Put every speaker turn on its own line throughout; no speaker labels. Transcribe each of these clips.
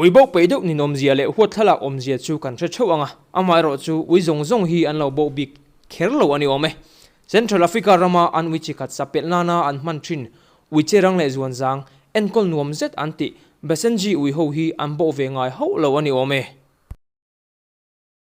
Uiboh peih deuh ninawmzia leh huat thlalak awmzia chu kan hre theuh ang a, amaherawhchu ui zawng zawng hi an lo boh bik kher lo a ni awm e. Central Africa rama an Wiche khat sapelh nana an hman thin. Wiche rang leh zuanzang, enkawl nuam zet an tih. Basenji ui ho hi an bawh ve ngai hauh lo a ni awm e.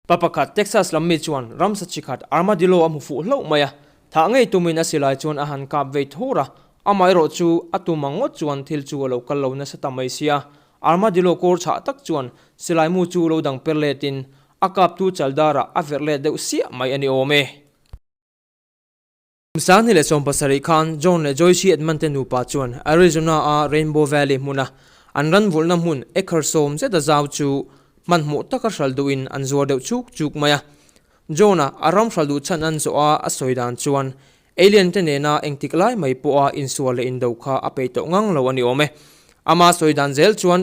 Pa pakhat Texas lam mi chuan ramsa chi khat armadillo a hmu fuh hlauh mai a. Thah ngei tumin a silai chuan a han kap vei thur a. Amaherawh chu, a tum ang ngawt chuan thil chu a lo kal lo nasa ta mai sia. Armadillo kawr chhah tak chuan silaimu chu lo dang per letin a kaptu chal darah a verh let deuh siah mai a ni awm e. Sahni leh sawm pasarih khan John leh Joyce-i an man te nupa chuan Arizona-a Rainbow Valley hmuna an ran vulhna hmun acre sawm zeta zau chu hmanhmawh taka hral duhin an zuar deuh chuk chuk mai a. John-a a ram hral duh chhan an zawh a a sawi dan chuan Alien te nena engtik lai mai pawha insual leh indo kha a peih tawh ngang lo a ni awm e. Amah sawi dan zel chuan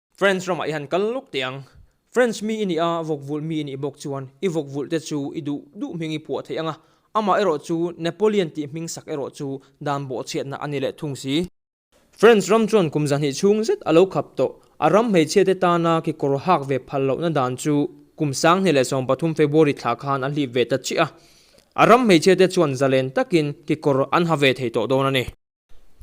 French ramah i han kal lawk teh ang. French mi i nih a, vawkvulh mi i nih bawk chuan i vawkvulh te chu i duh duh hming i puah theih ang a. Amah erawh chu Napoleon tih hming sak erawh chu dan bawh chhiatna a ni leh thung si. French ram chuan kum zahnih chhung zet a lo khap tawh. A ram hmeichhia te tana kekawr hak ve phal lohna dan chu kum sanghnih leh sawm pathum February thla khan a hlip ve ta chih a. A ram hmeichhia te chuan zalen takin kekawr an ha ve thei tawh dawn a ni.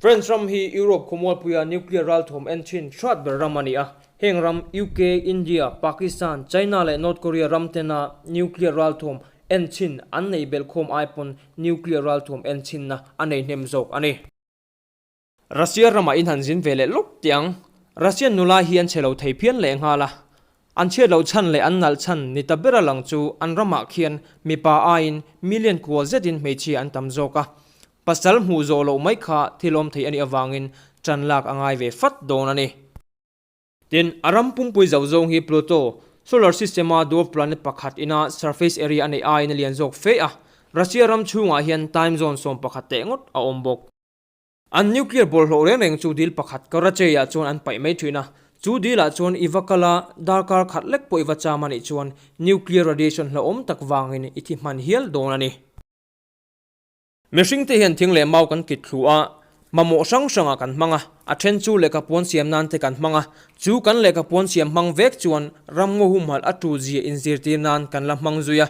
France ram hi Europe khawmualpuia nuclear ralthawm en thin hrat ber ram a ni a. Heng ram UK, India, Pakistan, China leh North Korea ram tena nuclear ralthawm en thin an nei belh khawm ai pawn nuclear ralthawm en thinna a nei hnem zawk a ni. Russia ramah in han zin ve leh lawk tiang. Russian nula hi an che lo thei phian leh nghal a. An chhiat loh chhan leh an nalh chhan ni ta ber a lang chu an ramah khian mipa aiin million kual zetin hmeichhia an tam zawk a. Pasal hmuh zawh loh mai kha thilawm thei a nih avangin tan lak a ngai ve fat dawn a ni. Tin, a ram pumpui zauh zawng hi Pluto, Solar System-a dwarf planet pakhat ina surface area a neih aiin a lian zawk fe a. Russia ram chhungah hian time zone sawm pakhat teh ngawt a awm bawk. An nuclear bawlhhlawh reng reng chu dil pakhat Karachei-ah chuan an paih mai thin a. Chu dilah chuan i va kal a, darkar khat lek pawh i va cham a nih chuan nuclear radiation hlauhawm tak vangin i thi hman hial dawn a ni. Mihring te hian thing leh mau kan kit thluh a, mamawh hrang hrangah kan hmang a, a then chu lehkha puan siam nan te kan hmang a, chu kan lehkha puan siam hmang vek chuan ramngaw humhalh a tul zia inzirtir nan kan la hmang zui a.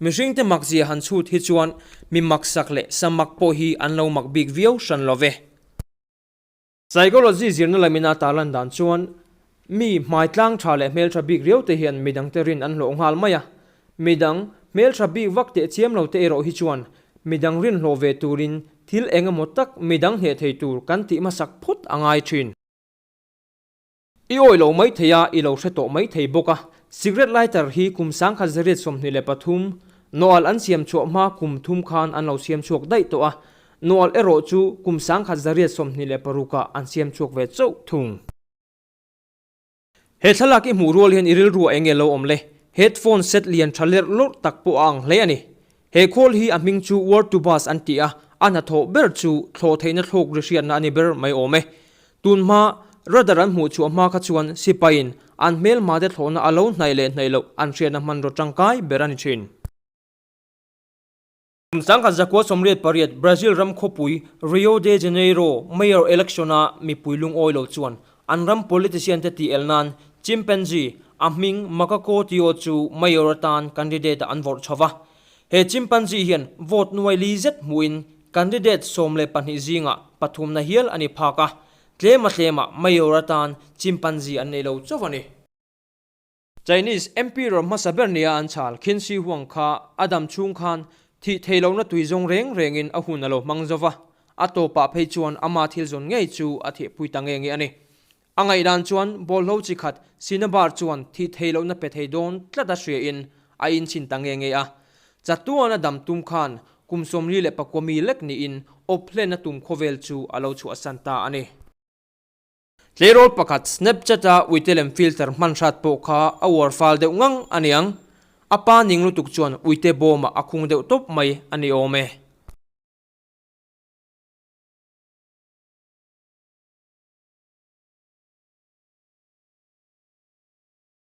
Mihring te mak zia han chhut hi chuan mi mak sak leh sa mak pawh hi an lo mak bik viau hran lo ve. Psychology zirna la mina tar lan dan chuan mi hmaitlang tha leh hmeltha bik riau te hian midangte rin an hlawh nghal mai a. Midang hmeltha bik vak teh chiam lo te erawh hi chuan midang rin hlawh ve turin thil engemaw tak midang hneh thei tur kan tih hmasak phawt a ngai thin. I awih lo mai thei a, i lo hre tawh mai thei bawk a. Cigarette lighter hi kum sang kha zariat sawmhnih leh pathum, Noel an siam chhuah hma kum thum khan an lo siam chhuak daih tawh a. Noel erawh chu kum sang kha zariat sawmhnih leh parukah an siam chhuak ve chauh thung. He thlalak i hmuh rual hian i rilru a eng nge lo awm le? Headphone set lian tha lerh lawrh tak pawh a ang hle a ni. He khawl hi a hming chu War to Bus an ti a, a hnathawh ber chu thlawh theihna thluk ri hriatna a ni ber mai awm e. Tun hma, radar an hmuh chu a hma kha chuan sipain an hmelma te thlawhna a lo hnaih leh hnaih loh an hriatna hmanraw tangkai ber a ni thin. Kum sangha zakua sawmriat pariat Brazil ram khawpui Rio de Janeiro Mayor election-a mipui lungawi lo chuan An ram politician te tih el nan chimpanzee, a hming Makako Tio chu mayor atan candidate ah an vawrh chho va. He chimpanzee hian vote nuai li zet hmuh in candidate sawm leh pahnih zingah pathum na hial a ni phak a, tlema tlema mayor atan chimpanzee an nei lo chauh a ni. Chinese Emperor hmasa ber nia an chhal Qin Shi Huang kha a dam chhung khan thih thei lohna tui zawng reng rengin a hun a lo hmang zo va, a tawpah phei chuan ama thil zawn ngei chu a thehpui ta nge nge a ni. A ngaih dan chuan bawlhlo chi khat sina bar chuan thih thei lohna pe thei dawn tlat a hriain a in chhin ta nge nge a. Chatuan a dam tum khan kum sawmli leh pakua mi lek niin awp hlen a tum khawvel chu a lo chhuahsan ta a ni. Tleirawl pakhat Snapchat a Uitelem filter hmanhrat pawh kha a uar fal deuh ngang a ni ang. A pa ning lutuk chuan Uite bawmah a khung deuh tawp mai a ni awm e.